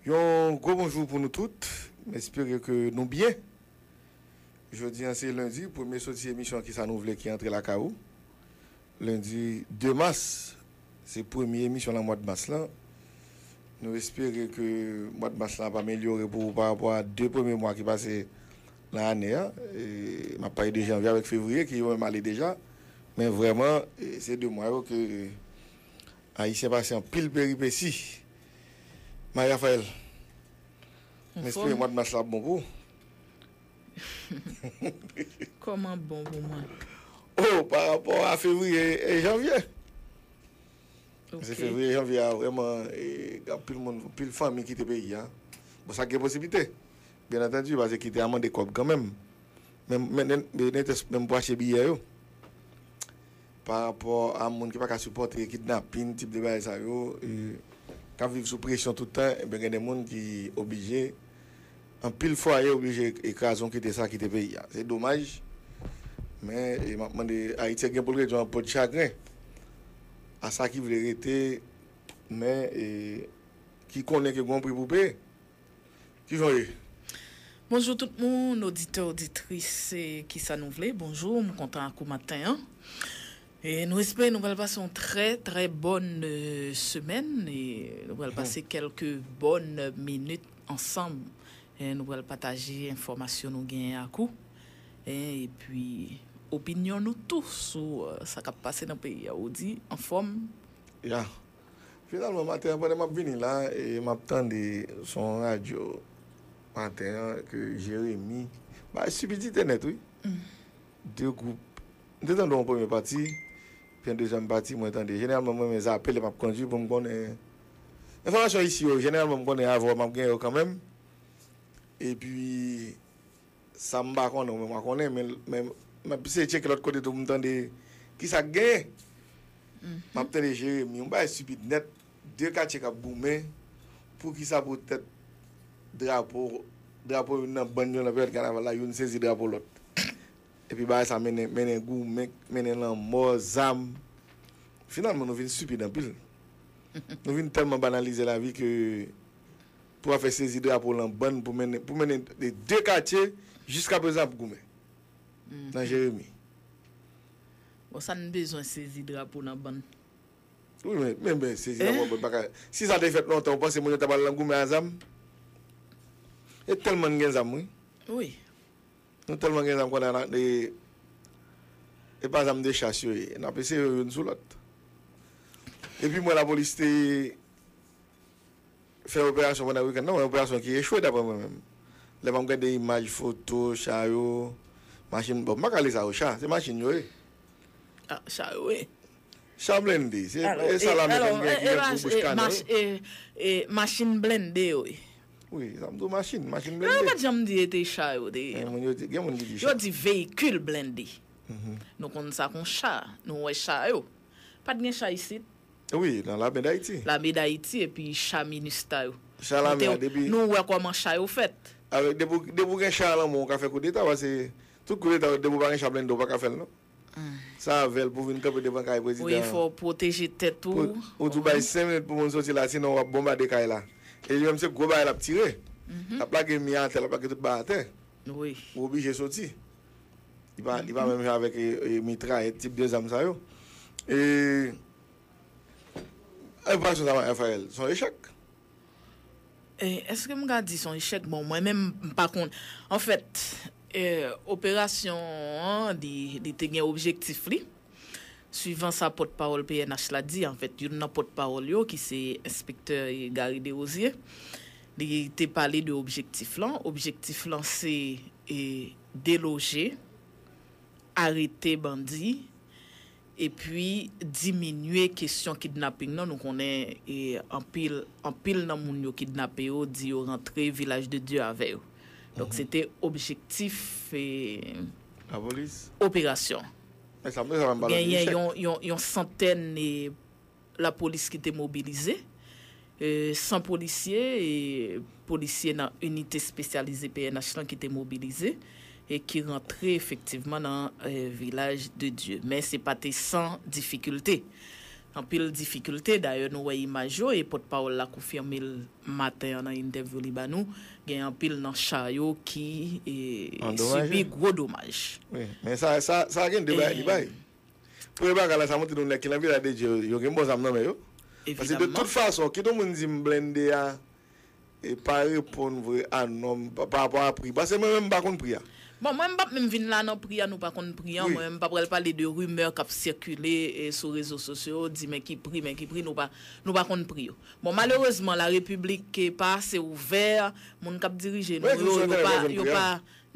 Yon gwo bonjou pou nou tout, m espere ke nou byen. Jodi an se lendi, premye soti emisyon kisa nou vle ki antre lakay ou. Lendi 2 mas, se premye emisyon nan mwad mas lan. Nou espere ke mwad mas lan ap amelyore pou ou pa rapò a 2 premye mwa ki pase nan ane an. M ap pale de janvye avèk fevriye ki yo menm ale deja. Men vrèman se 2 mwa yo ke ayisyen pase anpil peripesi. Marie Raphaël M espere mwad mas la ap bon pou ou. Kòman ap bon pou mwen? Oh pa rapò a fevriye e janvye. Paske fevriye janvye a vrèman anpil moun anpil fanmi kite peyi a. Bon sa k gen posiblite byen antandu paske kite a mande kòb kanmenm. Men netes menm pou achte biyè yo. Pa rapò a moun ki pa ka sipòte kidnapin, tip de bagay sa yo, k ap viv sou presyon tout tan, enben gen de moun ki oblije, anpil fwaye oblije kraze kite sa kite peyi a. Se domaj, men m ap mande Ayiti gen pou l ret yon po di chagren a sa ki vle rete, men ki konnen ke gen yon pri pou peye. Kijan w ye? Bonjou tout moun, oditè oditris Kisa nou vle bonjou, m kontan ak ou maten an e nou espere nou pral pase yon trè trè bòn semèn e nou pral pase kèlke bòn minit ansanm e nou pral pataje enfòmasyon nou genyen ak ou e epi opinyon nou tou sou sa k ap pase nan peyi a ou di anfòm? Ya. Finalman maten an pandan map vini la e map tande son radyo maten an ke Jeremi bay sibidite nèt wi. 2 gwoup. M te tande yon premye pati, pi yon dezyèm pati mwen tande. Jeneralman m renmen zape lè map kondwi pou m konnen enfòmasyon isi yo. Jeneralman m konnen avè w map gen yo kanmenm. Epi. Sa m pa konnen ou menm wa konnen men m ap eseye tcheke lòt kote tou pou m tande ki sa k genyen. M ap tande Jeremi, yon bagay stipid nèt, 2 katye k ap goumen pou ki sa poutèt drapo, drapo youn nan bann yo nan peryòd kanaval la, youn sezi drapo lòt. Epi bagay sa mennen, mennen goumen, mennen lanmò, zam. Finalman nou vin stipid anpil. Nou vin tèlman banalize lavi ke. Pou afè sezi drapo lan bann pou mennen pou mennen de 2 katye jiska prezan ap goumen nan Jeremi. Bon sa n bezwen sezi drapo lan bann? Wi men, men men sezi drapo lan bann paka si sa te fèt lontan ou panse moun yo ta pral lan goumen a zam? E tèlman n gen zam wi. Wi. Nou tèlman gen zam kounye a nan e e pa zam de chas yo ye. N ap eseye yo youn sou lòt. Depi m wè lapolis te fè operasyon pandan wikenn nan, yon operasyon ki echwe daprè mwen menm. Lè map gade imaj, foto, cha yo, machin, bon m paka rele sa yo cha, se machin yo ye. Ah cha yo ye. Cha blende, se sa lame konn gen ki gen gwo bouch kanè wi. E machin blende yo ye. Wi, e sa m di w machin, machin blende. Non yo pat janm di e te cha yo te ye non. Gen moun ki di cha. Yo di veyikil blende. Nou konn sa kon cha, nou wè cha yo. Pat gen cha isit. Wi nan lame dayiti. Lame dayiti epi cha minustah yo. Cha lame ya depi. Nou wè kòman cha yo fèt. Avèk depi depi ou gen cha lan menw ou ka fè koudeta pase tout koudeta yo depi ou pa gen cha blende ou paka fèl non sa avèl pou vin kanpe devan kay prezidan an wi fòw pwoteje tèt ou ou tou bay 5 minit pou moun soti la sinon wap bonbade kay la e li menm se gwo bagay lap tire lap lage mi atè lap lage tout bagay atè wi ou oblije soti. Li pa li pa menm jan avèk mitrayèt tip de zam sa yo. E operasyon sa Rafael son echèk. Eske m ka di son echèk? Bon mwen menm m pa konn. Anfèt operasyon an li te gen objektif li. Swivan sa pòt pawòl pnh la di, anfèt youn nan pòt pawòl yo ki se enspektè Garry Derosier, li te pale de objektif lan, objektif lan se deloje, arete bandi, epi diminye kesyon kidnaping nan, nou konnen anpil anpil nan moun yo kidnape yo di yo rantre Vilaj de Dye avè yo, donk se te objektif. operasyon. Genyen yon santèn lapolis ki te mobilize, 100 polisye, polisye nan inite spesyalize pnh lan ki te mobilize, ki rantre efektivman nan Vilaj de Dye. Men se pa te san difikilte. Anpil difikilte, dayè nou wè imaj yo e pòtpawòl la konfime l Maten an nan entèvyou li ba nou, gen anpil nan cha yo ki sibi gwo domaj. Wi, men sa a gen de bagay li bay. Premye bagay la, sa montre nou nèg ki nan Vila de Dye yo gen bon zam nan men yo. Paske de tout fason, kit yon moun di m blende a pa reponn vre a nòm parapò a pri. Paske mwen menm m pa konn pri a. Bon, mwen m p ap menm vin la nan pri a nou pa konn pri an. Mwen menm m pa pral pale de rimè k ap sikile sou rezo sosyo, di men ki pri, men ki pri, nou pa konn pri yo. Bon malerezman la repiblik pa ase ouvè, moun kap dirije nou yo, yo pa, yo pa,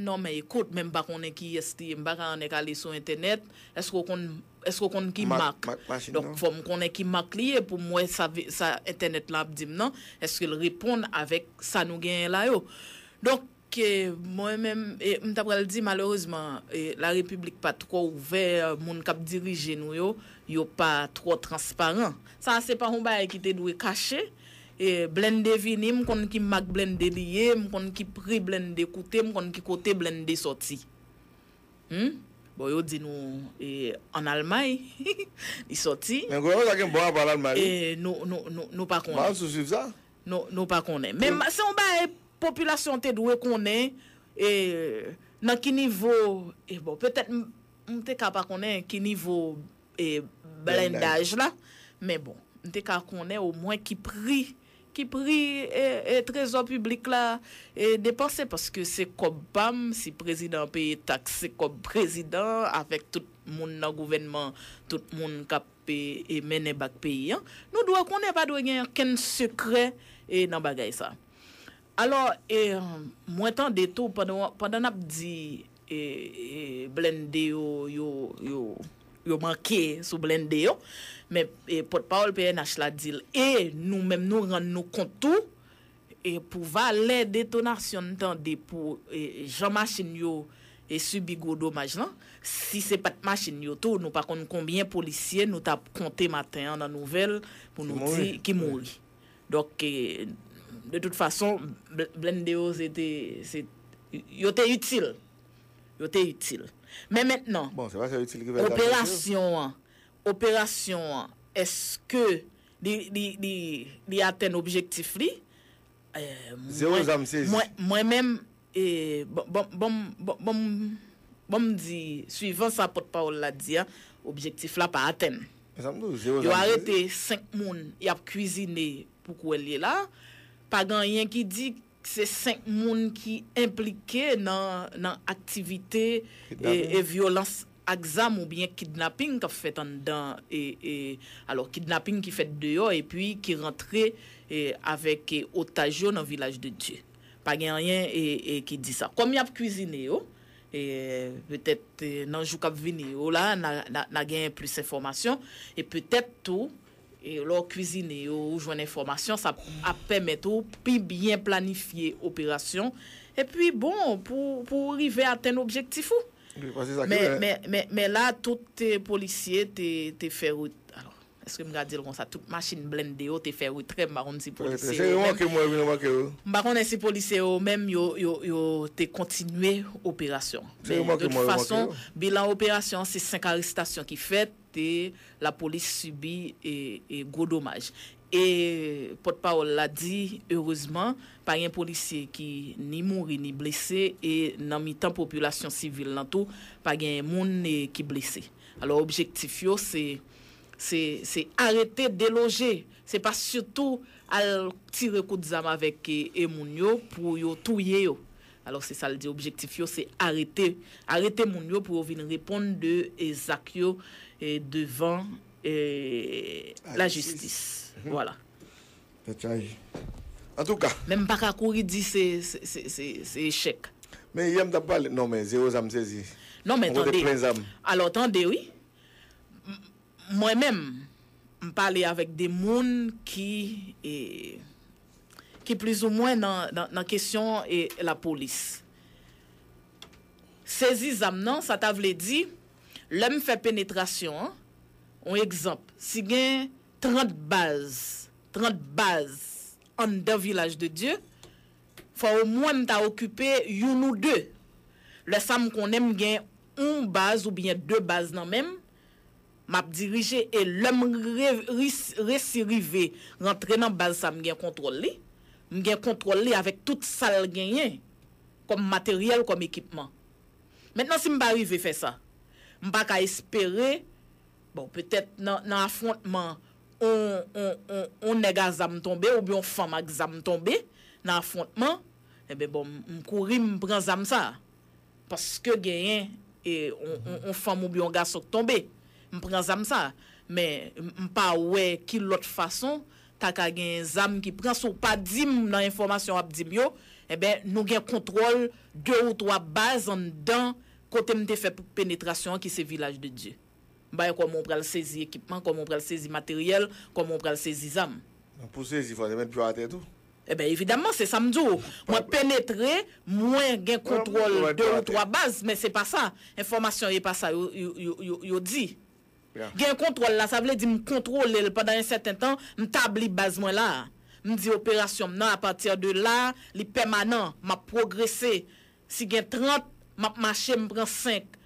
non men ekout menm pa konnen kiyès li ye m paka annik ale sou entènèt, èske ou konn, èske ou konn ki mak, donk fòm konnen ki mak li ye poum wè sa, sa entènèt lan ap dim nan, èskel reponn avèk sa nou genyen la yo. Donk. Ke mwen menm m ta pral di malerezman la repiblik pa twò ouvè, moun kap dirije nou yo, yo pa twò transparan. Sa a se pa yon bagay ki te dwe kache. Blennde vini, m konn ki mak blennde li ye, m konn ki pri blennde koute, m konn ki kote blennde sòti. Hum! Bon yo di nou an Almay li sòti. Men gouvenman sa gen bon apa an Almay wi. Nou pa konnen. Mal sou swiv sa. Nou pa konnen. Men se yon bagay popilasyon an te dwe konnen e nan ki nivo e bon petèt m te ka pa konnen ki nivo e blendaj la men bon m te ka konnen omwen ki pri ki pri e trezò piblik la e depanse paske se kòb pa m si prezidan an peye taks se kòb prezidan an avèk tout moun nan gouvènman tout moun k ap e mennen bak peyi an, nou dwe konnen pa dwe gen ankenn sekrè e nan bagay sa. Alò e mwen tande tou pandan nap di e blende yo yo yo yo manke sou blende yo men e pòtpawòl pnh la dil e nou menm nou rann nou kont tou, E pou valè detonasyon n tande pou jan machin yo sibi gwo domaj lan, si se pat machin yo tou nou pa konn konbyen polisye nou tap konte maten an nan nouvèl pou nou di ki mouri. Donk de tout fason blennde yo se te se yo te itil. Yo te itil. Men mentnan operasyon an operasyon an eske Li atenn objektif li. Zero zam sezi. Mwen menm, bon m di, suivan sa pòt pawòl la di a, objektif la pa atenn. E sa m di w, zero zam sezi. Yo arete 5 moun y ap kwizine pou kwè l ye la. Pa gen anyen ki di Se 5 moun ki enplike nan aktivite e vyolans ak zam oubyen kidnaping k ap fèt anndan e alò kidnaping ki fèt deyò epi ki rantre avèk otaj yo nan Vilaj de Dye. Pa gen anyen ki di sa. Kòm y ap kwizine yo, petèt nan jou k ap vini yo la, n a genyen plis enfòmasyon e petèt tou Lè w kwizine yo, ou jwenn enfòmasyon, sa ap pèmèt ou pi byen planifye operasyon epi bon pou ou rive atenn objektif ou. Men la tout polisye te fè retrè, èske m ka di l konsa, tout machin blende yo te fè retrè, m pa konn si polisye yo menm, m pa konnen si polisye yo menm yo te kontinye operasyon an. Men de tout fason, bilan operasyon an se 5 arestasyon ki fèt. te lapolis sibi gwo domaj e pòt pawòl la di erezman pa gen polisye ki ni mouri ni blese e nan mitan popilasyon sivil lan tou pa gen moun ki blese alò objektif yo se se arete deloje se pa sitou al tire kout zam avèk moun yo pou yo touye yo Alò se sa l di objektif yo se arete arete moun yo pou yo vin reponn de zak yo devan lajistis. Vwala. Tèt chaje. Antouka. Men m pa ka kouri di se echèk. Men yè m t ap pale. Non men zewo zam m sezi. Non men tande. Ou pote plen zam. Alò tande wi. Mwen menm, m pale avèk de moun ki ki plizoumwen nan kesyon lapolis. Sezi zam nan, sa ta vle di, lè m fè penetrasyon an, yon egzanp, si gen 30 baz, 30 baz anndan Vilaj de Dye, fò omwen m ta okipe youn ou de. Lè sa m konnen m gen yon baz oubyen de baz nan men m, Map dirije e lèm resi rive rantre nan baz sa mgen kontwòl li, mgen kontwòl li avèk tout sal genyen kòm materyèl kòm ekipman. Mentnan sim pa rive fè sa, mpa ka espere bon petèt nan afwontman on nèg a zam tonbe oubyen on fanm ak zam tonbe nan afwontman, enben bon mkouri mpran zam sa. Paske genyen yon fanm oubyen yon gason k tonbe, m pran zam sa. Men, m pa wè ki lòt fason ta ka genyen zam ki pran. Si w pa di m nan enfòmasyon w ap di m yo, enben, nou gen kontwòl de ou twa baz anndan kote m te fè penetrasyon an ki se Vilaj de Dye. M pa wè kòman ou pral sezi ekipman, kòman ou pral sezi materyèl, kòman ou pral sezi zam. Pou w sezi fò w te mèt pye w atè tou. Ebyen evidamman se sam di w mwen penetre mwen gen kontwòl 2 ou 3 baz men se pa sa enfòmasyon yo e pa sa yo di gen kontwòl la sa vle di m kontwole l pandan yon sèten tan m tabli baz mwen la m di operasyon m nan apati de la li pèmanan map pwogrese si gen 30 map mache m pran 5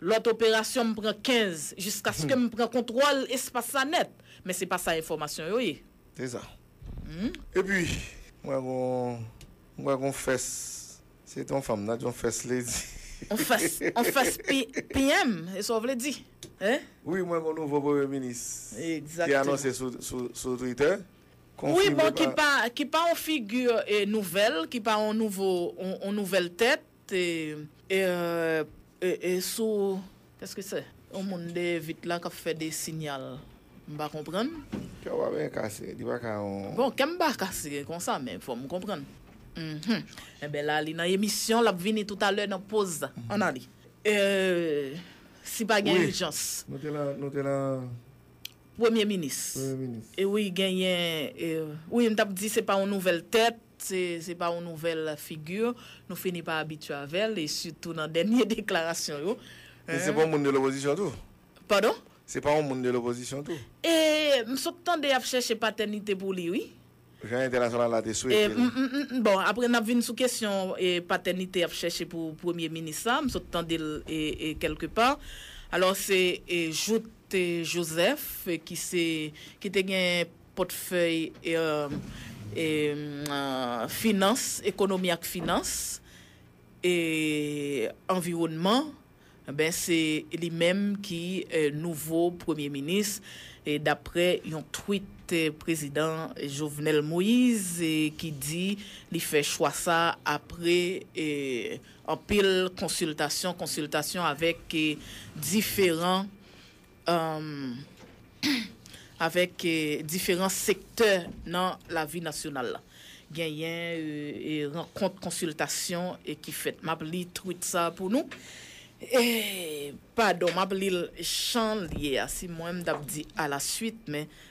Lòt operasyon m pran 15 jiskaske m pran kontwòl espas la nèt. Men se pa sa enfòmasyon yo ye. Se sa. Epi, m wè gon, m wè gon fès. Se te yon fanm nan, yon fès li di. Yon fès, yon fès PM, e sa w vle di? Hein? Wi, m wè gon nouvo premye minis. Egzakteman. Te anonse sou, sou, sou Twitter. Konfime pa. Wi, bon, ki pa, ki pa yon figi nouvèl, ki pa yon nouvo, yon nouvèl tèt. Te ee sou eske se yon moun dèyè vit la kap fè de sinyal m pa konprann. Kè w pa byen kase li pa ka yon. Bon kè m pa kase konsa men fò m konprann uhmm enben la li nan emisyon lap vini toutalè nan poz an ale ee si pa gen ijans. Nou te lan nou te lan. Premye minis premye minis e wi genyen e wi m tap di se pa yon nouvèl tèt. Se se pa yon nouvèl figi, nou fini pa abitye avè l, e sitou nan dènye deklarasyon yo. Li se pa yon moun de lopozisyon tou? Padon? Se pa yon moun de lopozisyon tou? E, m sot tande y ap chèche patènite pou li wi. Jan entènasyonal la te swete l. M, bon, apre n ap vin sou kesyon patènite y ap chèche pou premye minis la, m sot tande l kèlke pa. Alò se Jouthe Joseph ki se, ki te gen. pòtfèy finans, ekonomi ak finans, e anviwònman, ben se li menm ki nouvo premye minis, daprè yon tweet prezidan Jovenel Moise ki di li fè chwa sa apre anpil konsiltasyon konsiltasyon avèk diferan Humm avèk diferan sektè nan lavi nasyonal la. Genyen rankont konsiltasyon ki fèt. M ap li tweet sa pou nou. Padon, m ap li l jan l ye a. Si mwen m t ap di alasuit men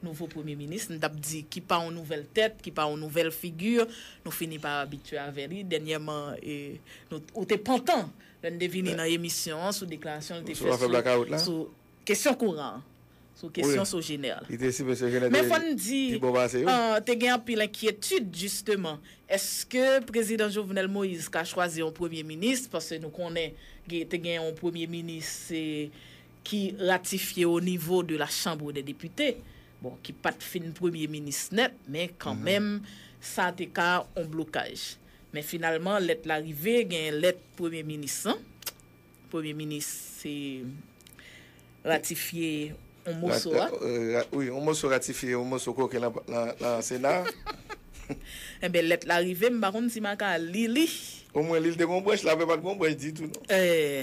Nouvo premye minis, m t ap di, ki pa yon nouvèl tèt, ki pa yon nouvèl figi, nou fini pa abitye avè li. Dènyèman, ou te pantan lè n te vini nan emisyon an sou deklarasyon l te fè sou kesyon kouran an, sou kesyon Sogener la. Men fò n di, te gen anpil enkyetid jisteman, èske Prezidan Jovenel Moïse ka chwazi yon premye minis, paske nou konnen te gen yon premye minis, se ki ratifye o nivo de la Chambre des Députés, bon ki pat fin premye minis nèt men kan menm sa te ka on blokaj. Men finalman lèt la rive gen lèt premye minis lan, premye minis se ratifye on moso a. Wi on moso ratifye on moso koke lan sena a. Enben lèt la rive m pa konn si m a ka li li. O mwen li l te gen on branch la, apre pat gen on branch ditou non. Ee.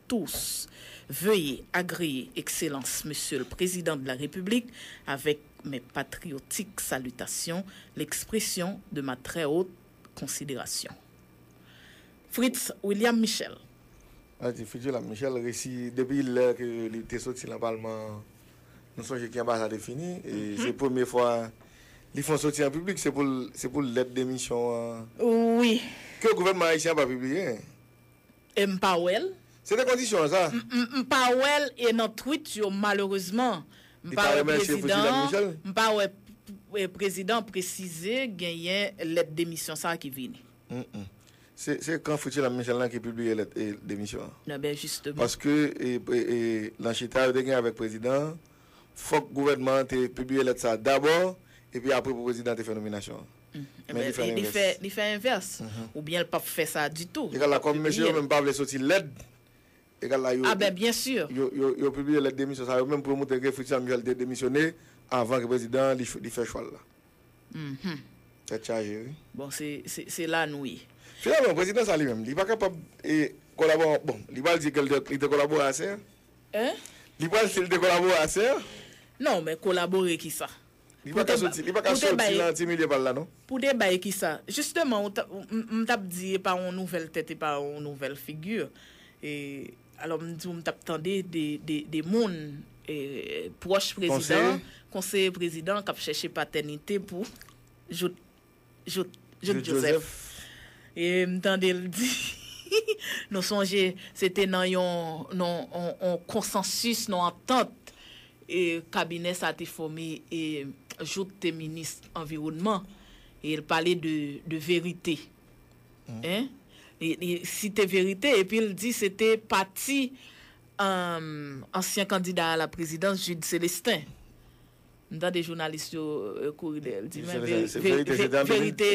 tous. Veye agreye Ekselans Mesye l Prezidan de la Repiblik avèk mes patriotiques salutations, l'expression de ma très haute considération. Fritz William Michel. Sa di Fritz William Michel resi depi lè ke li te soti lan palman an nou sonje ki anba sa te fini e se premye fwa li fon soti an piblik se pou l lèt demisyon an ke gouvènman ayisyen an pa pibliye. E m pa wè l. Se te kondisyon an sa. M pa wè l e nan tweet yo malerezman m pa wè prezidan m pa wè prezidan presize genyen lèt demisyon sa ki vini. Se kan Fritjellam Michel lan ki pibliye lèt demisyon an. E ben jisteman. Paske nan chita yo te gen avèk prezidan an, fòk gouvènman an te pibliye lèt sa dabò epi apre pou prezidan te fè nominasyon an. Men li fè lenvès. Li fè envès. Oubyen l pap fè sa ditou. Egal la kòm mesye yo menm pa vle soti lèd, egal la yo. A ben byen sur. Yo pibliye lèt demisyon sa yo menm pou yo montre ke Fritz Samuel te demisyone avan ke prezidan an li fè chwa l la. Tèt chaje wi. Bon se la nou ye. Finalman prezidan sa li menm li pa kapab kolabore ak bon li pral di ke li te kolabore a ser? Hein? Li pral di li te kolabore a ser? Non men kolabore ki sa? Li pa ka soti, li pa ka soti lan ti milye pal la non. Pou te bay kisa? Jisteman ou ta, m tap di e pa yon nouvèl tèt e pa yon nouvèl figi. E alò m di ou m tap tande de moun pwòch prezidan, konseye prezidan kap chèche patènite pou jout. Jout Joseph e m tande l di nou sonje se te nan yon konsansis, yon antant kabinè sa te fòme e Jout te minis anviwònman e l pale de verite li site verite epi l di se te pati ansyen kandida a la prezidans Jude Celestin. M tande jounalis yo kouri dèyè l di men verite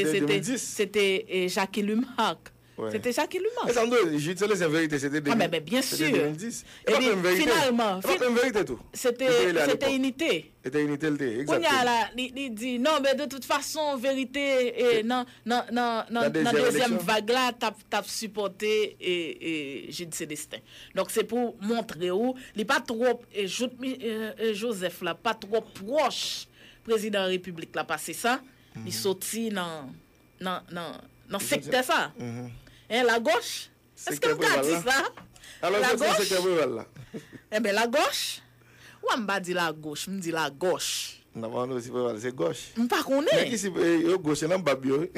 se te Jacky Lumarque. Se te Jacky Lumarque. Esanm dwe di Jude Celestin verite se te 2010. E pa menm verite. E pa menm verite tou. Se te Inite. Se te Inite l te ye. Kounye a la li di non men de tout fason verite nan dezyèm vag la tap sipòte Jude Celestin. Donk se pou montre ou li pa twop jout Joseph la pa twop pwoch prezidan repiblik la pase sa li soti nan sektè sa hein la gauche eske m ka di sa la gauche hein ben la gauche. Wè m pa di lagoch, m di lagòch. Nan pa nou si pral pale se gòch. M pa konnen. Nèg isi yo gòch se nan bab yo wi.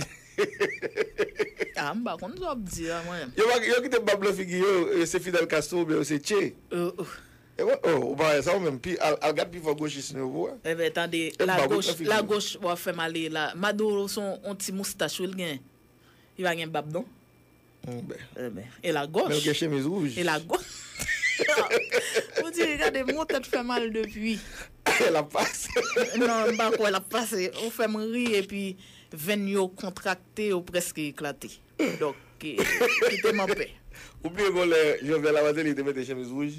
A m pa konn sa w ap di a mwen. Yo pa yo kite bab nan figi yo yo se Fidel Castro oubyen yo se Che. Ohh. Ewa oh ou pa wè sa ou menm pi al al gad pifò gochism yo pou wè. Enben tande lagoch lagoch wap fèm ale la Maduro son on ti moustache wi l gen li pa gen bab non. E la gòch. Menl gen chemiz rouj. E la gòch. Ou di gade mou tèt fè mal depi. E lap pase. Non m pa kwè lap pase. Ou fè m ri epi venn yo kontrakte yo preske eklate. Dòk kite m anpè. Ou bliye gon lè Jovenel a Martelly te mete chemiz rouj.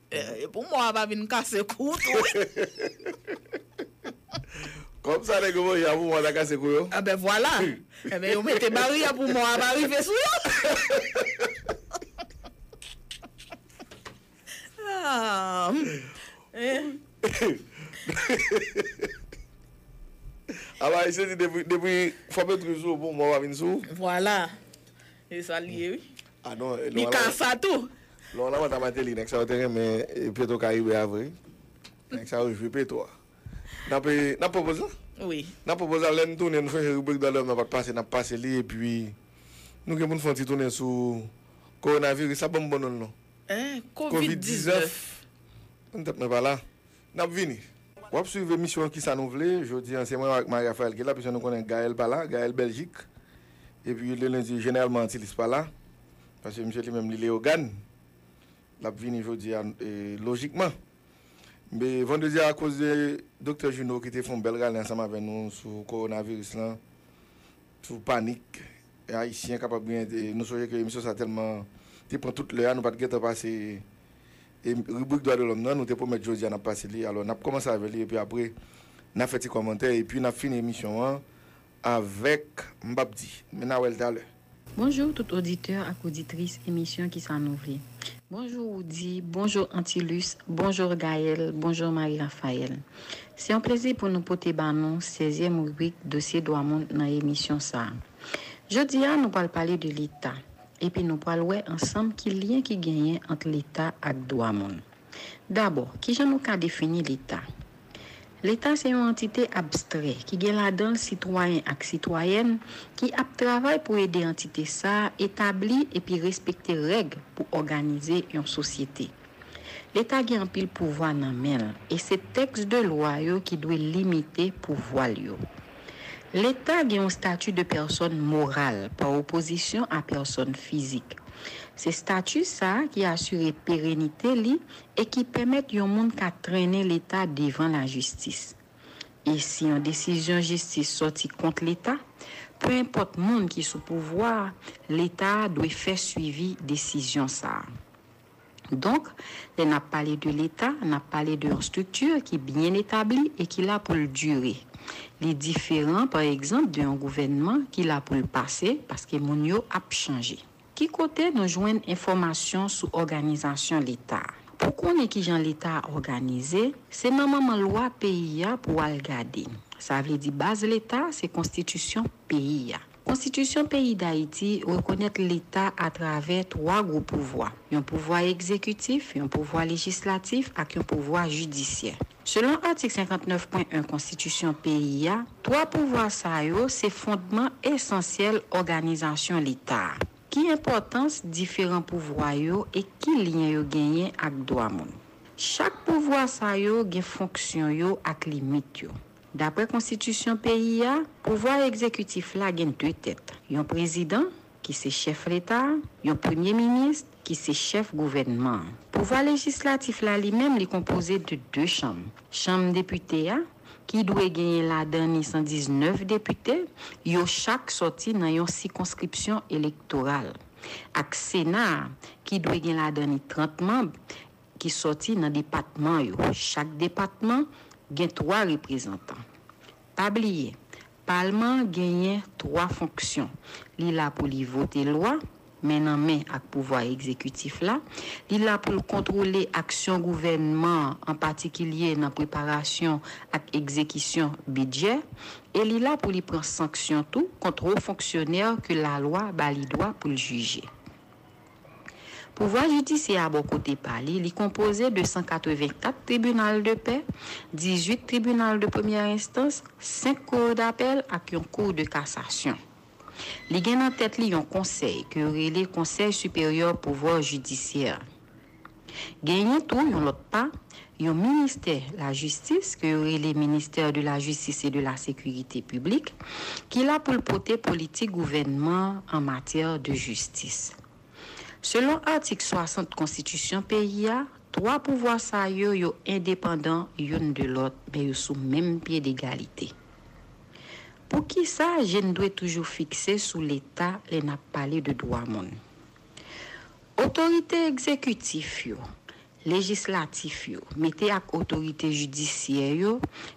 E pou mò a pa vin kase kou w tou wi. Kòm sa nèg yo manje a pou mò a ta kase kou yo? Enben vwala. Enben yo mete baryè pou mò a pa rive sou yo. Alò Ayisyen di depi fòme trou sou ou pou mò a pa vin sou ou? Vwala. E sa l ye wi. Ah non, Li Laurent ka Lamothe, sa tou. Laurent Lamothe a Martelly nèg sa yo te renmen Petro Caribe a vre. Nèg sa yo jwi Petro a. Nap nap pwopoze l? Wi. Nap pwopoze l, lè n tounen nou sonje ribrik Dwa de Lòm nan pa t pase, nap pase li epi nou gen pou n fè yon ti tounen sou Kowonaviris la, ban m bon non l non. Hein? Covid 19. Kovid 19. An tèt mwen pa la. Nap vini. Wap swiv emisyon kisa nou vle jodi an se mwen ak Marie Raphaëlle ki la pise nou konnen Gaëlle pa la Gaëlle Belgique epi le lundi jeneralman Antilis pa la paske misye li menm li Léogâne lap vini jodi a lojikman be vendredi a akoz de Doktè Juno ki te fon bèl rale ansanm avè nou sou Coronavirus lan sou panik E ayisyen kapab gen nou sonje ke emisyon sa tèlman te pran tout lè a nou pat gentan pase ribrik dwa de lòm nan nou te pwomèt jodi a nap pase li alò nap kòmanse avè li epi apre na fè ti kòmantè epi nap fini emisyon an avèk m pap di men na wèl talè. Bonjour tout auditeur ak auditrice emisyon kisa nou vle bonjour Roody bonjour Antilus bonjour Gaëlle bonjour Marie Raphaëlle. Se yon plezi pou nou pote ba nou sezyèm ribrik Dosye Dwa Moun nan emisyon sa a. Jodi a, nou pral pale de Leta, epi nou pral wè ansanm ki lyen ki genyen ant Leta ak dwa moun. Dabò, ki jan nou ka defini Leta? Leta se yon antite abstrè ki gen ladan l sitwayen ak sitwayèn ki ap travay pou ede antite sa a etabli epi respekte règ pou òganize yon sosyete. Leta gen anpil pouvwa nan men l e se tèks de lwa yo ki dwe limite pouvwa l yo. Leta gen yon stati de pèsòn moral pa opozisyon a pèsòn fizik. Se stati sa a ki asire perenite li e ki pèmèt yon moun ka trennen Leta devan lajistis. E si yon desizyon jistis sòti kont Leta, pe enpòt moun ki sou pouvwa a, Leta a dwe fè swivi desizyon sa a. Donk, lè n ap pale de Leta, n ap pale de yon estrikti ki byen etabli e ki la pou l dire. Li diferan, pa egzanp, de yon gouvènman ki la pou l pase, paske moun yo ap chanje. Ki kote nou jwenn enfòmasyon sou òganizasyon Leta? Pou w konnen ki jan Leta a òganize, se nan manman lwa peyi a pou w al gade. Sa vle di baz Leta se Konstitisyon peyi a. Konstitisyon peyi Dayiti rekonèt Leta atravè twa gwo pouvwa, yon pouvwa egzekitif, yon pouvwa lejislatif ak yon pouvwa jidisyè. Selon atik 59 pwen 1 Konstitisyon peyi a, twa pouvwa sa yo se fondman esansyèl òganizasyon Leta a. Ki enpòtans diferan pouvwa yo e ki lyen yo genyen ak dwa moun? Chak pouvwa sa yo gen fonksyon yo ak limit yo. Dapre konstitisyon peyi a, pouvwa egzekitif la gen 2 tèt, yon prezidan, ki se chèf leta, yon premye minis, ki se chèf gouvènman an. Pouvwa lejislatif la li menm li konpoze de 2 chanm, chanm depite a, ki dwe genyen ladan ni 119 depite, yo chak sòti nan yon sikonskripsyon elektoral, ak sena a, ki dwe gen ladan ni 30 manb, ki sòti nan depatman yo. Chak depatman gen twa reprezantan. Pa bliye, Palman an genyen twa fonksyon, li la pou li vote lwa, men nan men ak pouvwa egzekitif la, li la pou l kontwole aksyon gouvènman an, an patikilye nan preparasyon ak egzekisyon bidjè, e li la pou li pran sanksyon tou kont wo fonksyonè ke lalwa ba li dwa pou l jije. Pouvwa jidisyè a bò kote pa li, li konpoze de 184 tribinal de pè, 18 tribinal de premyè enstans, 5 kour dapèl ak yon kour de kasasyon. Li gen nan tèt li yon konsèy ke yo rele Konsèy Siperyè Pouvwa Jidisyè. Genyen tou yon lòt pa, yon ministè lajistis ke yo rele Ministère de la Justice et de la Sécurité Publique ki la pou l pote politik gouvènman an an matyè de jistis. Selon atik 60 konstitisyon peyi a, twa pouvwa sa yo yo endepandan youn de lòt men yo sou menm pye degalite. Poukisa je n dwe toujou fikse sou Leta lè n ap pale de dwa moun? Otorite egzekitif yo, lejislatif yo, mete ak otorite jidisyè yo,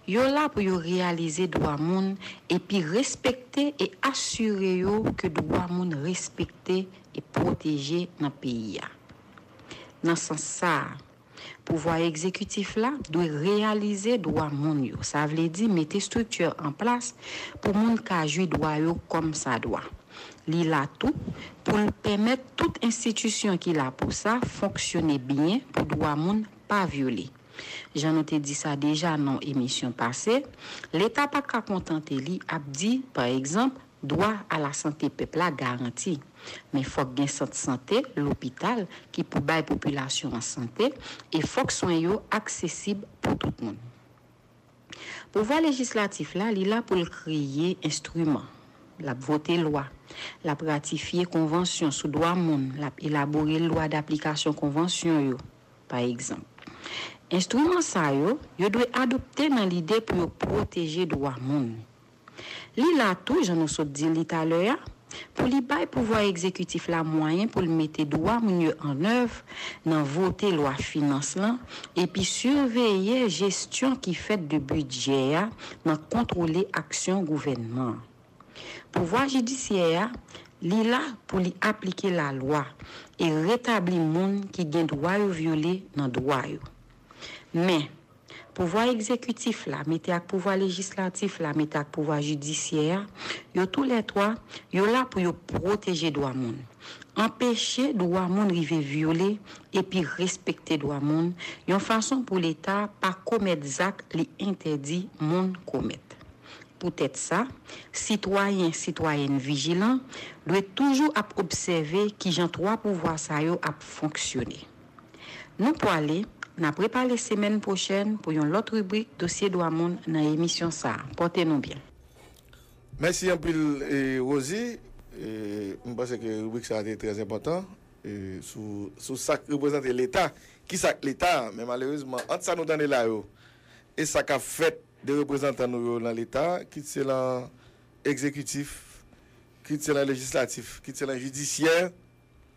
yo la pou yo reyalize dwa moun epi respekte e asire yo ke dwa moun respekte e pwoteje nan peyi a. Nan sans sa a. Pouvwa egzekitif la dwe reyalize dwa moun yo, sa vle di mete estrikti an plas pou moun ka jwi dwa yo kòm sa dwa. Li la tou pou l pèmèt tout enstitisyon ki la pou sa fonksyone byen pou dwa moun pa vyole. Jan nou te di sa deja nan emisyon pase, Leta pa ka kontante li ap di, pa egzanp, Dwa a la sante pèp la garanti, men fòk gen sant sante, lopital, ki pou bay popilasyon an sante, e fòk swen yo aksesib pou tout moun. Pouvwa lejislatif la, li la pou l kreye enstriman, l ap vote lwa, l ap ratifye konvansyon sou dwa moun, l ap elabore lwa daplikasyon konvansyon yo, pa egzanp. Enstriman sa yo, yo dwe adopte nan lide pou yo pwoteje dwa moun. Li la tou, jan nou sot di li talè a, pou li bay pouvwa egzekitif la mwayen pou l mete dwa moun yo annèv nan vote lwa finans lan epi siveye jesyon ki fèt de bidjè a nan kontwole aksyon gouvènman an. Pouvwa jidisyè a, li la pou li aplike lalwa e retabli moun ki gen dwa yo vyole nan dwa yo. Men. Pouvwa egzekitif la mete ak pouvwa lejislatif la mete ak pouvwa jidisyè a, yo tou lè twa, yo la pou yo pwoteje dwa moun. Anpeche dwa moun rive vyole epi respekte dwa moun, yon fason pou Leta pa komèt zak li entèdi moun komèt. Poutèt sa, sitwayen, sitwayèn vijilan dwe toujou ap obsève kijan twa pouvwa sa yo ap fonksyone. Nou pwale, n ap repale semèn pwochèn pou yon lòt ribrik Dosye Dwa Moun nan emisyon sa. Pòte nou byen. Mèsi anpil Rosi, m panse ke ribrik sa te trè enpòtan sou sa k reprezante leta, kisa k leta, men malerezman ant sa nou tande la yo e sa k ap fèt de reprezantan nou yo nan leta, kit se lan egzekitif, kit se lan lejislatif, kit se lan jidisyè,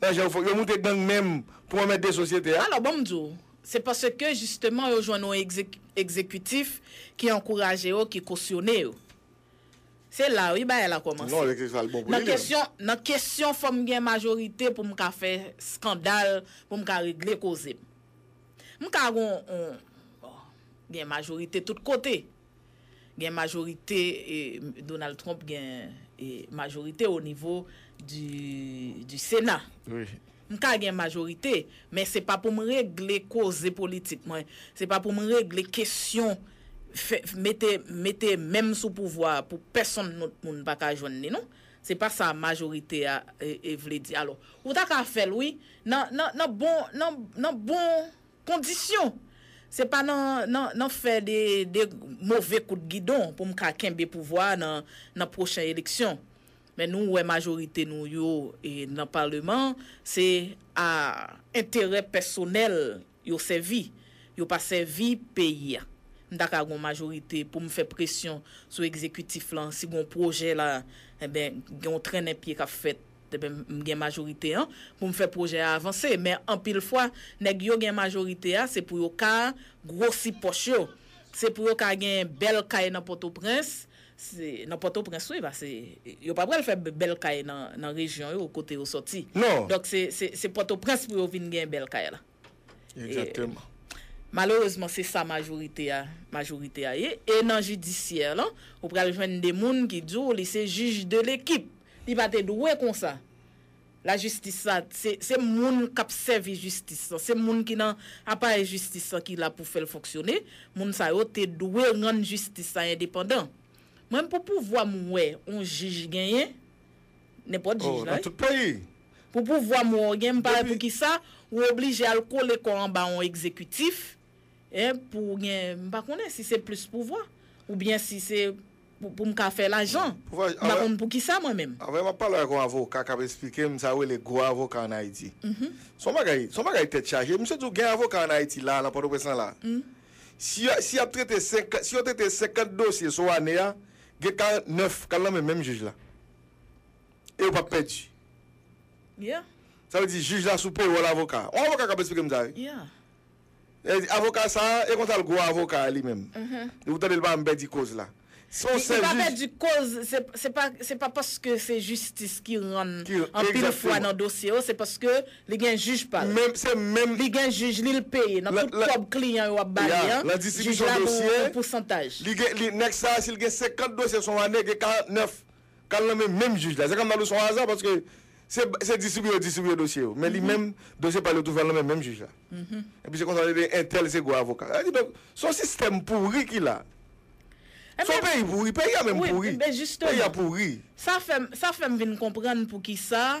Nan je w fok yo moute gang menm pou anmède sosyete a. Alò ban m di w, se paske jisteman yo jwenn yon egzekitif ki ankouraje yo, ki kosyone yo. Se la wi bagay la kòmanse. Nan kesyon fò m gen majorite pou m ka fè skandal, pou m ka regle koze m. M ka gen yon, bon, gen majorite tout kote. Gen majorite Donald Trump gen majorite o nivo di sena m ka gen majorite men se pa pou m regle koze politik mwen se pa pou m regle kesyon mete men m sou pouvwa pou pèsonn lòt moun pa ka jwenn li non se pa sa majorite a vle di alò ou ta ka fè l wi nan bon Kondisyon! Se pa nan fè de move kout gidon pou m ka kenbe pouvwa a nan pwochen eleksyon. Men nou wè majorite nou yo nan paleman se a enterè pèsonèl yo sèvi, yo pa sèvi peyi a. M ta ka gon majorite pou m fè presyon sou egzekitif lan si gon pwojè la, enben gen yon trennen pye k ap fèt. Depi m gen majorite an pou m fè pwojè a avanse. Men anpil fwa nèg yo gen majorite a se pou yo ka gwosi pòch yo. Se pou yo ka gen bèl kay nan Pòtoprens, nan Pòtoprens wi pase yo pa pral fè bèl kay nan rejyon yo kote yo sòti. Donk se Pòtoprens pou yo vin gen bèl kay la. Exactement. Malerezman se sa majorite a majorite a ye e nan jidisyè lan ou pral jwenn de moun ki di w li se jij de lekip li pa te dwe konsa lajistis sa se se moun k ap sèvi jistis lan se moun ki nan aparèy jistis lan ki la pou fè l fonksyone moun sa yo te dwe rann jistis la endepandan mwen pou pouvwa m wè on jij genyen Nenpòt jij la wi. Pou pouvwa mwen w gen m pa wè poukisa ou oblije al kole kò w anba yon egzekitif pou w gen m pa konnen si se plis pouvwa oubyen si se pou m ka fè lajan. M pa konn poukisa mwen menm. Anvan m ap pale ak yon avoka k ap esplike m sa yo rele gwo avoka an Ayiti. Se yon bagay, se yon bagay tèt chaje. Misye di w gen avoka an Ayiti la a nan Pòtoprens lan la a. Si y ap trete 50, si yo trete 50 dosye sou ane a, Gen 49 kal nan men menm jij la. E yo pap pèdi. Yeah. Sa vle di jij la sou payroll avoka. On avoka kap esplike m sa wi. Yeah. Li di avoka sa e konsa l gwo avoka a li menm. Depi w tande l pa janm pèdi koz la. Se yon sèl jij. Li pa pèdi koz, se pa paske se jistis ki rann anpil fwa nan dosye yo, se paske. Li gen jij pa l. Menm se menm. Li gen jij li l peye nan tout kòb kliyan yo ap ba li an. Ya, nan distribisyon dosye. Jij la gen yon pousantaj. Li gen li nèg sa si l gen 50 dosye son ane gen 49 k al nan men menm jij la. Se kòm nan l ou son aza paske se se distribiye yo distribiye dosye yo men li menm dosye pa l yo toujou al nan men menm jij la. Epi se konsa yo rele entèl se gwo avoka. Sa vle di donk s on sistèm pouri ki la. S on peyi pouri. Peyi a menm pouri. Peyi a pouri. Sa fè m sa fè m vin konprann poukisa.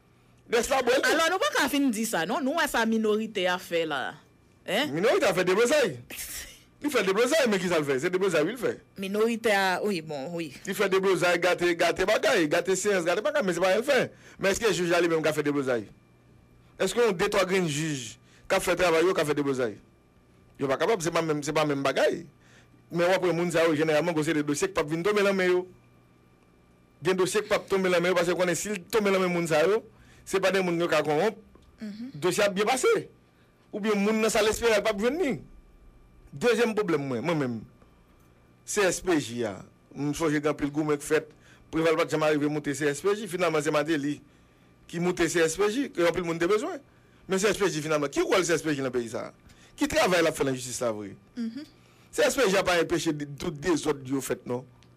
Nèg sa bwèl tou. Alò nou pa ka fin di sa non, nou wè sa minorite a fè la hein. Minorite a fè deblozay. Li fè deblozay men kisa l fè, se deblozay wi l fè. Minorite a wi bon wi. Li fè deblozay, gate gate bagay, gate seyans, gate bagay men se pa sa l fè. Men èske jij la li menm ka fè deblozay? Èske yon de twa grenn jij k ap fè travay yo ka fè deblozay? Yo pa kapab se pa menm se pa menm bagay. Men w ap wè moun sa yo jeneralman gwo seri de dosye k p ap vin tonbe lan men yo. gen dosye k pap tonbe lan men yo paske yo konnen si l tonbe lan men moun sa yo, se pa de moun yo ka konwonp, dosye ap byen pase. Oubyen moun nan sal espere l pap jwenn li. Dezyèm pwoblèm mwen, mwen menm, CSPJ a, m sonje gen anpil goumen k fèt, Preval pat janm arive moute CSPJ, finalman se Mateli ki moute CSPJ, ke anpil moun te bezwen. Men CSPJ finalman, ki wòl CSPJ lan peyi sa a? Ki travay l ap fè lan jistis la vre? CSPJ a pa enpeche tout dezòd yo fèt non.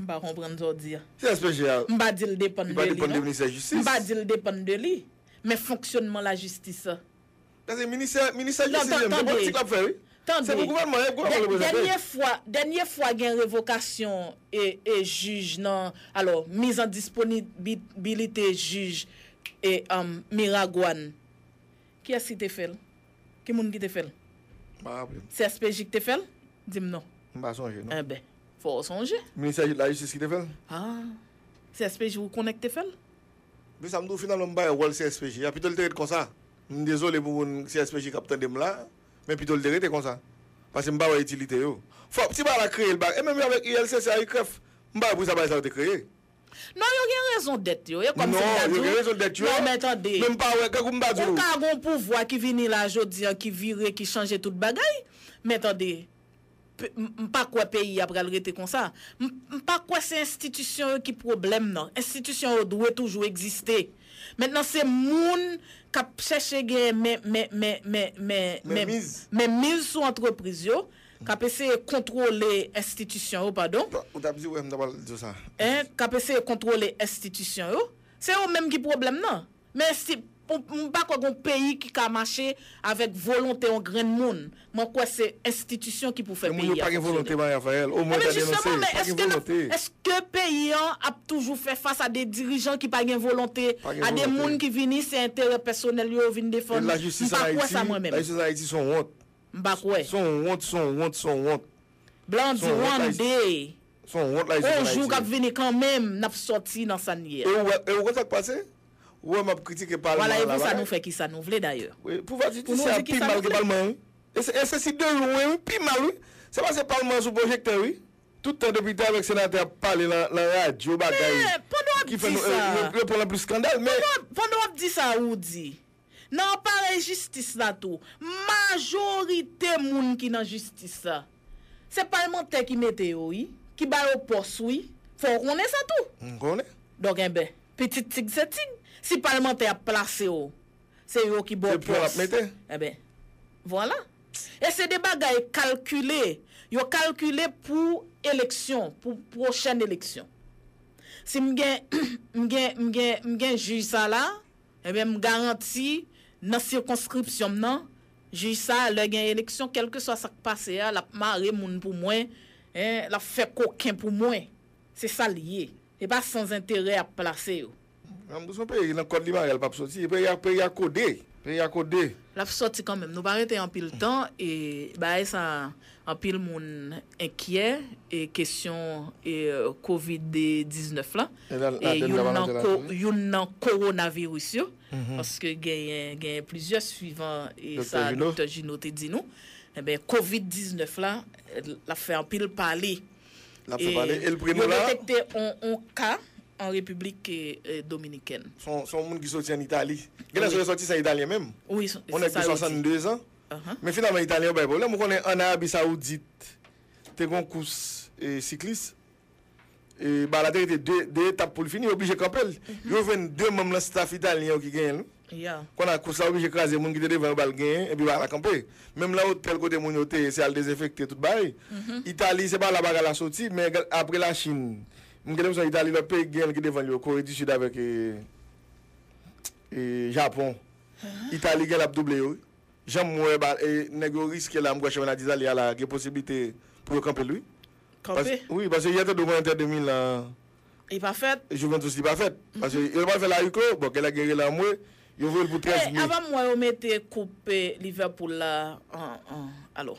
M pa konprann sa w di a. Ki aspè je a? M pa di l depann de li non. M pa di l depann de li. Men fonksyonman lajistis. Paske ministè ministè jistis yo se politik l ap fè wi. Se pou gouvènman an e gouvènman an l reprezante. Dènye fwa dènye fwa gen revokasyon e jij nan alò miz an disponibilite jij e Miragwàn Kiyès ki te fè l? Ki moun ki te fè l? M pa raple m. CSPJ ki te fè l? Di m non. M pa sonje non. Enben, fò w sonje. Ministè lajistis ki te fè l? A! CSPJ ou konnen ki te fè l? Se sa m di w finalman m bay wòl CSPJ a, pito l te ret konsa. M dezole pou moun CSPJ k ap tande m la, men pito l te rete konsa. Paske m pa wè itilite yo. Fò ti bagay la kreye l ba. E menm jan avèk ULCC a, UCREF, m pa wè poukisa bagay sa yo te kreye. Non yo gen rezon dèt yo e kòm se m ta di w non men tande ou ka gon pouvwa ki vini la jodi an ki vire ki chanje tout bagay men tande m pa kwè peyi a pral rete konsa m pa kwè se enstitisyon yo ki pwoblèm nan enstitisyon yo dwe toujou egziste mentnan se moun k ap chèche gen men men men men men men men miz sou antrepriz yo K ap eseye kontwole enstitisyon yo, padon. Ou t ap di wè m ta pral di w sa. Hein, k ap eseye kontwole enstitisyon yo. Se yo menm ki pwoblèm nan. Men si, m pa kwè gen yon peyi ki ka mache avèk volonte yon grenn moun. Mwen kwè se enstitisyon ki pou fè peyi a fonksyone. Men moun yo pa gen volonte Marie Raphaëlle. O mwen ta denonse, yo pa gen volonte. Eske peyi an ap toujou fè fas a de dirijan ki pa gen volonte, a de moun ki vini se enterè pèsonèl yo yo vin defann? M pa kwè sa mwen menm. Lajistis an Ayiti se yon wont. m pa kwè. Son wont son wont son wont. Blan an di one day. Son wont la isit an ayiti. On jou kap vini kan menm nap soti nan sa n ye a. E ou konn sak pase? Ou wè map kritike palman la bagay. Vwala e pou sa nou fè kisa nou vle dayè. Wi pouvwa jidisyè a pi mal ke palman wi. E se si de lwen wi pi mal wi. Se pase palman an sou pwojektè wi. Tout tan depite avek senatè ap pale lan radyo bagay. Men pandan wap di sa. Yo pran lan plis skandal men. Pandan wap di sa ou di. Nan aparèy jistis la tou, majorite moun ki nan jistis la, se palmantè ki mete yo wi, ki ba yo pòs wi, fò w konnen sa tou. M konnen. Donk enben, pitit tig se tig, si palmantè ap plase w, se yo ki ba w pòs. Se pou yo l ap mete. Enben, vwala. E se de bagay kalkile, yo kalkile pou eleksyon, pou pwochèn eleksyon. Si m gen, m gen, m gen, m gen jij sa la. Enben, m garanti, nan sikonskripsyon m nan, jij sa a, lè gen eleksyon, kèlkeswa sa k pase a, l ap mare moun pou mwen, hein, l ap fè koken pou mwen. Se sa l ye. E pa sanzenterè y ap plase yo. Nan m son peyi, nan kòd li mare a l pap soti. E peyi a, peyi a kode. Peyi a kode. L ap soti kanmenm. Nou pa rete anpil tan, e bagay sa a, Anpil moun enkyè kesyon kovid 19 la e youn nan kowonaviris yo paske genyen plizyè swivan sa Doktè Jino te di nou enben kovid 19 la l ap fè anpil pale yo detekte yon ka an repiblik dominikèn. Son moun ki soti an Itali. Genlè se yon resòtisan italyen menm. Yon nèg de 62 zan. Men finalman Italyen yo bay pwoblèm. Ou konnen an Arabi Saoudit te gen yon kous siklis, e ba la te rete 2 etap pou l fini, yo oblije kanpe l. Yo jwenn 2 manm nan staf Italyen yo ki genyen l wi. Kon a kous la oblije kraze, moun ki te devan yo ba l genyen, epi ba la kanpe. Menm lan otèl kote moun yo te ye, se al dezenfekte tout bagay. Itali se pa la bagay la soti, men apre Lachin, m gen lenpresyon Itali lòt peyi ki genyen l ki devan l yo, Kore di Sid avèk Japon. Italie genlè ap double yo wi. Janm wè ba nèg yo riske la m kwè chanpyona ditalie a la gen posibilite pou yo kanpel wi. Kanpe? Wi paske yè te dwe konn Inter de Milan an. Li pa fèt? Juventus li pa fèt. Paske yo pral fèl a huis clos, bon genlè gen rele anmwe, yo voyel pou 13 mai. Avan m wè yo mete koup Liverpool la an alo.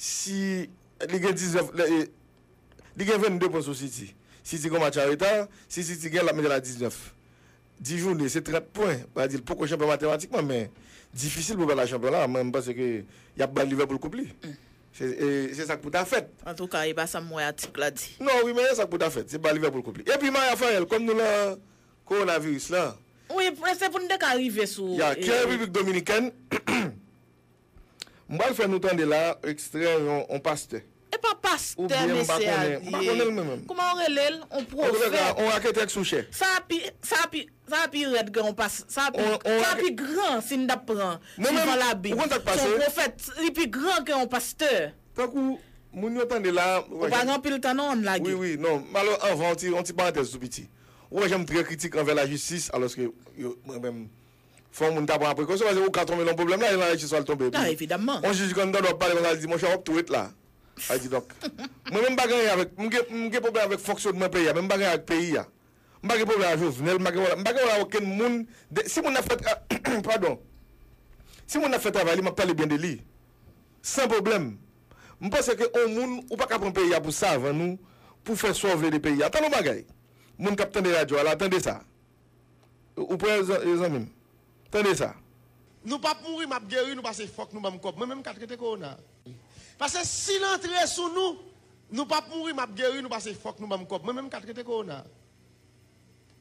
Si li gen 19 lè e Li gen 22 pwen sou City. City gen yon match anreta. Si City gen l ap mete l a 19. 10 jounen se 30 pwen. Mwen di l poko chanpyon matematikman men difisil pou l pa la chanpyon la. Mwen panse ke y ap bay Liverpool koup li. Se se sa k pou ta fèt. Antouka e pa sa m wè atik la di. Non wi men e sa k pou ta fèt. Se bay Liverpool koup li. Epi Maya Farel kòm nou lan kowonaviris lan. Wi se pou n te ka rive sou. Ya ki an Repiblik Dominikèn. M pral fè nou tande la ekstrè yon pastè. E pa pastè mesye a ye. M pa konnen l mwen menm. Kouman yo rele l? On pwofèt. An tou ka, on raketè k sou chè. Sa a pi, sa a pi, sa a pi rèd ke yon pas, sa a pi, sa a pi gran si n ta pran suivan labib. Mwen menm, ou konn sa k pase? S on pwofèt, li pi gran ke yon pastè. Tankou moun yo tande la. Ou pa gen anpil tan non an n lage. Wi, wi, non. M pral anvan on ti, on ti parantèz tou piti. Ou wè jan m trè kritik anvè lajistis alòske yo, mwen menm. Fò moun ta pran prekosyon paske ou ka tonbe nan yon pwoblèm la e nan lajistis wal tonbe epi yon jij ki anndan wap pale konsa li di monchè wap tou ret la. Sa di donk mwen menm m pa gen anyen avèk m gen m gen pwoblèm avèk fonksyonman peyi a men m pa gen anyen avèk peyi a. M pa gen pwoblèm a Jovenel m pa gen pwoblèm m pa gen pwoblèm a okenn moun de si moun ap fè tra padon si moun ap fè travay li map pale byen de li san pwoblèm. M panse ke yon moun ou pa ka pran peyi a pou savan ou pou fè sa w vle de peyi a. Tande yon bagay moun kap tande radyo a la tande sa. Ou prè zanmim? Tande sa. Nou pap mouri map geri nou pase fòk nou banm kòb mwen menm ka trete korona pase sil antre sou nou nou pap mouri map geri nou pase fòk nou banm kòb mwen menm ka trete korona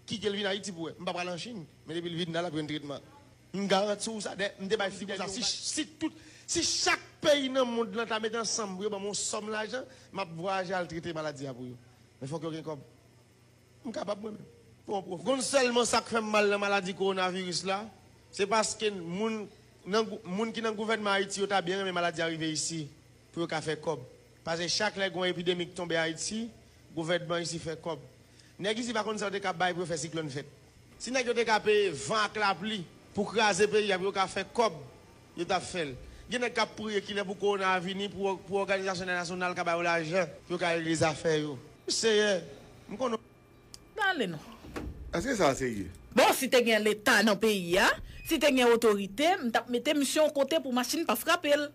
kitel vin ayiti pou wè mpa pral an chine men depil vin la lap jwenn tretman mgarantiw sa dè mte bay fidèl yon bagay si tout si chak peyi nan mond lan ta met ansanm pou yo banm yon sòm lajan map vwayaje al trete maladi a pou yo men fòk yo gen kòb M kapab mwen menm. Pou yon pwofèt. Konn sèlman sa k fè m mal nan maladi kowonaviris la, se paske moun nan moun ki nan gouvènman Ayiti yo ta byen renmen maladi a rive isi pou yo ka fè kòb. Pase chak lè gen yon epidemi k tonbe Ayiti, gouvènman isi fè kòb. Nèg isi pa konn sa yo te ka bay pou yo fè siklòn fèt. Si nèg yo te ka peye van ak lapli pou kraze peyi a pou yo ka fè kòb. Yo tap fèl. Gen nèg kap priye kilè pou corona a vini pou pou òganizasyon entènasyonal ka ba yo lajan pou yo ka regle zafè yo. Seyè, m konnen w. Pale non. Eske sa serye? Bon si te gen leta nan peyi a, si te gen otorite, m tap mete misye yon kote pou machin pa frape l.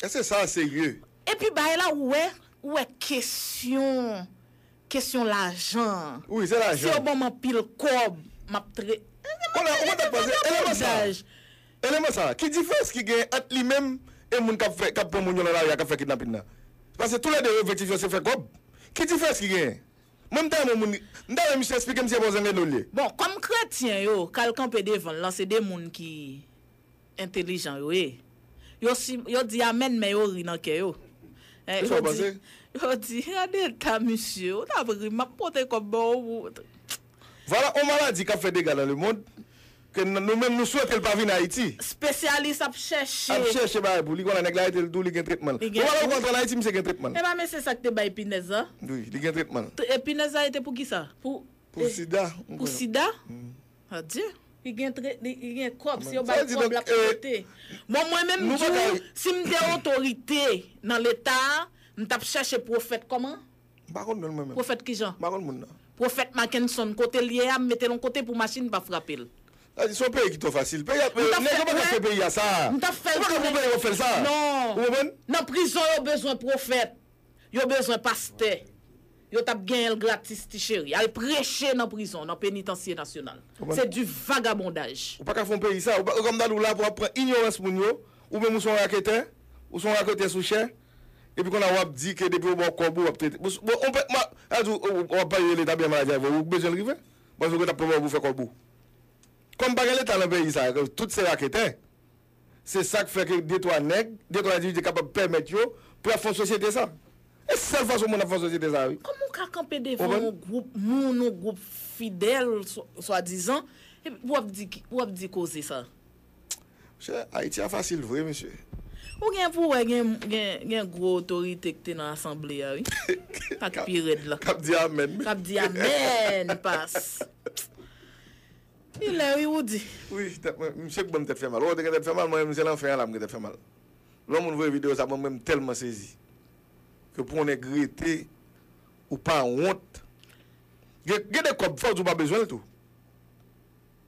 Eske sa serye? Epi bagay la ou wè, ou wè kesyon, kesyon lajan an. Wi, se lajan. Si yo banm anpil kòb, map tre. Eske map pale de vagabondaj? Eleman sa, ki diferans ki genyen ant li menm e moun kap fè, kap pran moun yo nan lari a kap fè kidnapin nan? Pase tou lè 2 objektif yo se fè kòb. Ki diferans ki genyen? Mwen m ta renmen moun, m ta renmen misye esplike m si se pa w zenglendo l ye. Bon, kòm kretyen yo k al kanpe devan l lan se 2 moun ki entelijan yo ye. Yo si, yo di amèn men yo ri nan kè yo. Ki sa w panse? Yo di, gade eta misye, ou tap ri m, m ap pote kòb ba w pou. Vwala on maladi kap fè dega nan lemond ke nou menm nou swete l pa vin Ayiti. Spesyalis ap chèche. Ap chèche bagay pou li konn a nèg la rete l tou li gen tretman l. Li gen tou. Bon bagay ou ka antre an Ayiti misye gen tretman l. Epa men se sak te bay pinèz la. Wi li gen tretman l. E pinèz la rete pou kisa? Pou. Pou sida. Pou sida? Adye. Li gen tret li li gen kòb si yo bay kòb lap trete. Bon mwen menm m di w si m te otorite nan leta a m tap chèche pwofèt kòman? M pa konn non l mwen menm. Pwofèt kijan? M pa konn moun nan. Pwofèt Mackenson, kote l ye a, m mete l on kote pou machin pa frape l. Sa vle di se yon peyi ki twò fasil. Peyi a, nèg yo pa ka fè peyi a sa. M ta fè l tounen. Yo pa ka pran peyi a pou fè l sa. Non. Ou konprann? Nan prizon yo bezwen pwofèt. Yo bezwen pastè. Yo t ap genyen l gratis ti cheri. Al preche nan prizon, nan penitansye nasyonal. Se du vagabondaj. Ou pa ka fè yon peyi sa. Ou konprann ou la pou ap pran inyorans moun yo. Ou menm ou se yon raketè. Ou se yon raketè sou chè. Epi konnya wap di ke depi yo baw kòb ou wap trete bon on pè ma a di w wap pale de leta byen mal a di avè w ou k bezwen l rive paske yo tap pran ba w pou fè kòb ou kòm pa gen leta nan peyi sa ke tout se raketè se sak fè ke de twa nèg de twa endividi kapab pèmèt yo pou yap fè yon sosyete sa e sèl fason moun ap fè yon sosyete sa wi. Kòman w ka kanpe devan yon gwoup moun yon gwoup fidèl swadizan epi pou wap di pou wap di koze sa. Mesye Haiti a fasil vre mesye. Ou gen pou wè gen gwo otorite ki te nan asanble a wi. Sa ki pi rèd la. Kap di amen. Kap di amen pas. Li lè wi Roody. Wi tèt mwen misye k banm tèt fè mal wè ou te gen tèt fè mal mwen menm se lan fen an la m gen tèt fè mal lè yon moun voye video sa mwen menm tèlman sezi ke pou yon nèg rete ou pa wont gen gen de kòb fòw di ou pa bezwen l tou.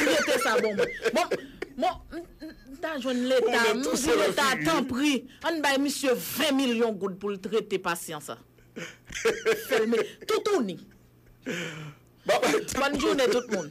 Rete sa bon mwen. Bon Bon m ta jwenn leta m di leta tanpri ann bay misye 20 milyon goud pou l trete pasyan sa. Fè l me toutouni. Bònn jounen tout moun.